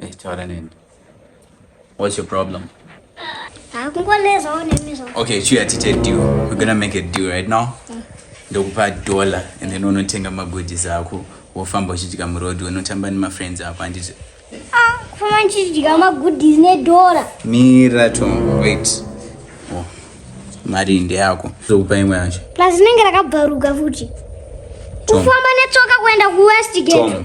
Hey, taura neni. What's your problem? Okay, chiya tite deal. We're gonna make a deal right now. Mm. Ndokupa dollar and then unotenga magoodies ako wofamba uchiitika muroad unotamba nemafriends ako handiti ah, kufamba ndichidya magoodies nedora mira to wait oh, mari ndeyako zokupa imwe yacho plus rinenge rakabvaruka futi kufamba netsoka kuenda kuwestgate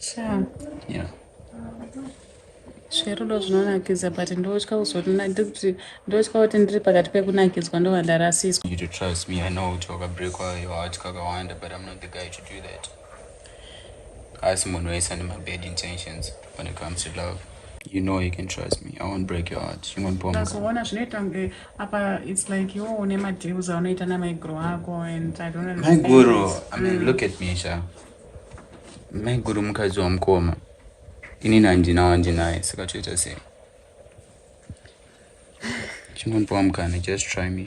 Sha. Yeah. Zverudo zvinonakidza but ndotya kuzonina ndikuti ndotya kuti ndiri pakati pekunakidzwa ndova ndarasiswa. You to trust me, I know kuti wakabreakwa your heart kakawanda but I'm not the guy to do that. Asi munhu wese ane mabad intentions when it comes to love. You know you can trust me. I won't break your heart. Chingondipa mukana. Ndazoona zvinoita kunge apa it's like iwo une madeals aunoita namaiguru ako and i don't understand maiguru i mean mm. look at me sha maiguru mukadzi wamukoma inini handina wandinaye saka toita sei chingondiwa mukana just try me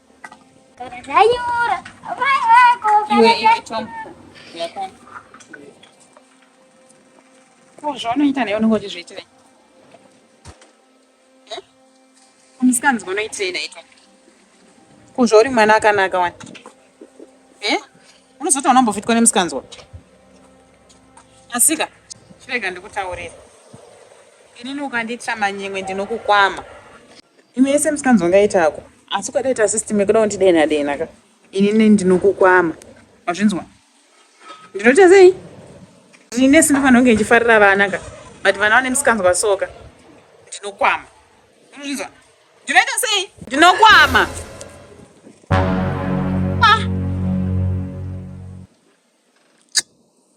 zvaunoita naye unenge uchizviitirei musikanzi unoitirei naye ko zvauri mwana akanaka wani e unozoti unambofitwa nemusikanzwa asika chirega ndikutaurira inini ukanditya manyimwe ndinokukwama imwe yese musikanzwa ngaitako asi ukadaita system yekuda kundidenha denha ka inini ndinokukwama wazvinzwa ndinoita sei ndine simba fanira kunge ndichifarira vana ka but vana vane misikanzwa soka ndinokwama unozvinzwa ndinoita sei ndinokwama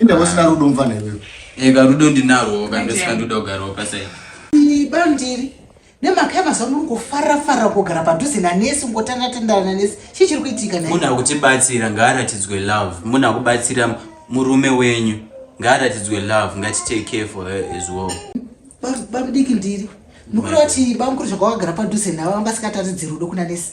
Inde usina rudo mfana iwewe. Eka rudo ndinarwo ka ndosika ndoda kugarawo paside. Ini bandiri nemhaka yamazuva muri kufarira farira kugara padhuze nanesi ngotanda tandana nanesi chii chiri kuitika munhu akutibatsira ngaaratidzwe love munhu akubatsira murume wenyu ngaaratidzwe love ngatitake care for her as well bamudiki ndiri mukuru vati bamukuru zvakawagara padhuze navo vanga sikataridzi rudo kuna nesi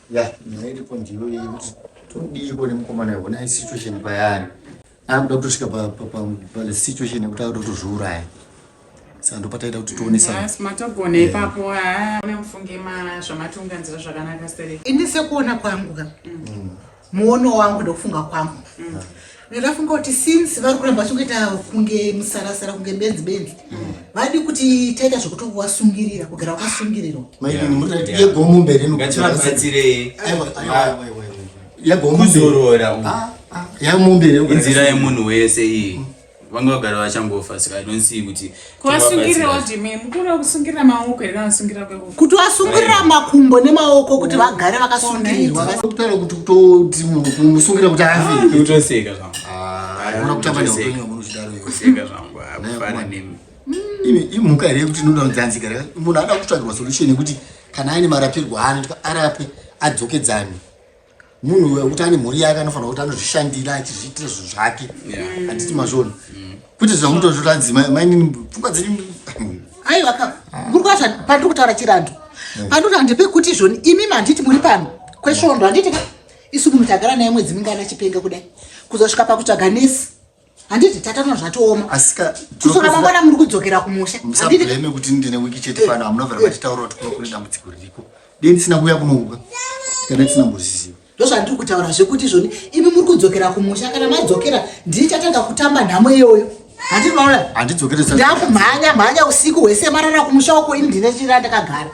ya nyaya iripo ndiyo iyi kuti todiiko nemukomana iwo naye situation payaari akuda kutosvika pasituation yekuti akuda kutozviuraya saka ndopataita kuti tionesamatogona ipapo amufunge zvamatunganzira zvakanaka sere ini sekuona kwangu ka mm. muono wangu ndokufunga kwangu mm. ndafunga kuti since vari kuramba vachingoita kunge musarasara kunge benzi benzi mm. vadi kuti taita zvekuti wasungirira kugara wakasungirirwa yegomumberekuzorora ah, ah, yamumberekunzira yemunhu wese iyi mm. vanga vagara vachangofa saka idonsiyi kuti kuasungirira wadimei mukuru wakusungirira maoko here kana kusungirira kweko kuti wasungirira makumbo nemaoko kuti vagare vakasungirirwa kutaura kuti kutoti musungirira kuti afiutoseka zvambuimhuka here kuti inoda kudzanzika re munhu anoda kutsvagirwa solution yekuti kana aine marapirwo aanoitwa arape adzokedzane munhu wekuti ane mhuri yake anofanira kuti anozvishandira achizviitira zvinhu zvake handiti mazvona mm. kuti zvamutozviranzi mainini pfungwa dzenyu aiwa ka muri kwacha pandiri kutaura chirandu eh. pandiri handi pekuti zvoni imi manditi muri pano kwesvondo handiti ka isu munhu tagara naye mwedzi mingana chipenga kudai kuzosvika pakutsvaga nesi handiti tatano zvatooma kusora mangwana muri kudzokera kumusha musableme kuti ndine wiki chete pano hamuna vara vachitaura kuti kuno kune dambudziko ririko dei ndisina kuuya kunouka kana ndisina mboziziva ndozvandiri kutaura zvekuti izvoni imi muri kudzokera kumusha kana madzokera ndiri chatanga kutamba nhamo iyoyo handizokereandakumhanya mhanya usiku hwese marara kumusha wako ini ndine chira ndakagara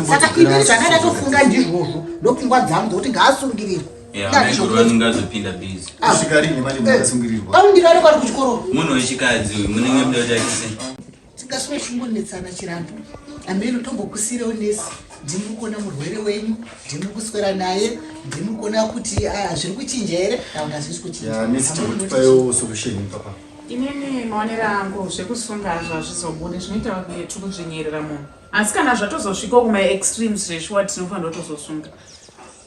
saka ini zvandaatofunga ndizvozvo ndopfungwa dzangu dzokuti ngaasungirirwe aundirare kwari kuchikoro munhu wechikadzi uyu munenge muda kutakise tikasvika chingometsana chirambo ameno tombokusirewo nesi ndimi kuona murwere wenyu ndimi kuswera naye ndimi kuona kuti ah, zviri kuchinja here kana kuti hazvisi kuchinjaeaosolutioniaa inini maonero angu zvekusunga hazvo hazvizobude zvinoita kunge tiri kudzvinyirira munhu asi kana zvatozosvikawo kumaextremes zveshuwa tinofanira kutozosunga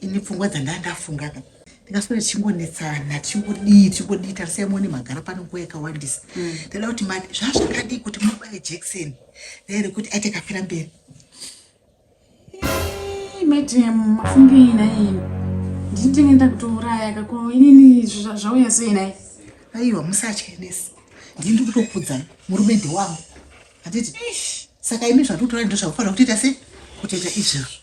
ini pfungwa dzandaa ndafunga ka ndingaswera tichingonetsana tichingodii tichingodii tarisai muone magara pano nguva yakawandisa mm. ndada kuti mati zvazvakadii kuti mubaye jackson naye rekuti aite kafira mberi madam mafungei naye ndinitenge nda kutouraya kako inini zvauya sei naye aiwa musatye nesi ndii ndi kutokudzai murume ndewangu handiti saka imi zvatikutorai ndozvakufanira kutoita sei kutoita izvezvo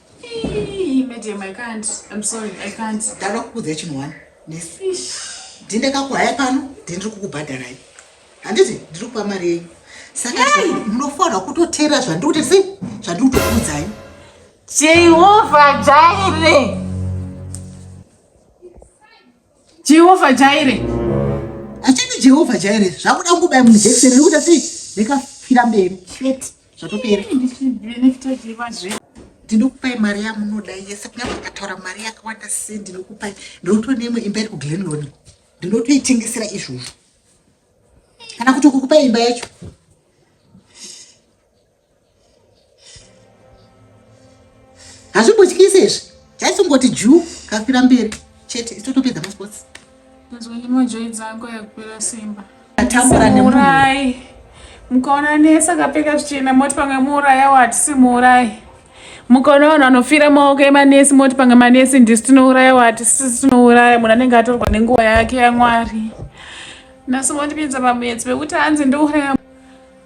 Madam, I can't. I'm sorry, I can't. Ndava kukuudza chinhu wani. Ndine kakuhaya pano, ndiri kukubhadharai. Handiti ndiri kupa mari yenyu. Saka munofanira kutoteera zvandiri kuti sei? Zvandiri kutokuudzai. Jehovha Jaire. Jehovha Jaire. Achati Jehovha Jaire zvakuda kungobaya munhu jekiseni riri kuita sei? Rekafira mberi. Shit. Zvatopera. ndinokupai mari yamunoda yese kunyange ukataura mari yakawanda sei ndinokupai ndinoto neimwe imba iri kuglenlon ndinotoitengesera izvozvo kana kuti ukukupai imba yacho hazvimbotyisi izvi chaisongoti juu kafira mberi chete isitotopedza masports nzonimojoyi dzangu yakupera simba atambura nemurai mukaona nese akapfeka zvichena moti pamwe muuraya watisi muurayi mukaona vanhu vanofira maoko emanesi moti pamwe manesi ndisi tinouraya wati sisi tinouraya munhu anenge atorwa nenguva yake yamwari nasi mondipinza pamwedzi vekuti hanzi ndouraya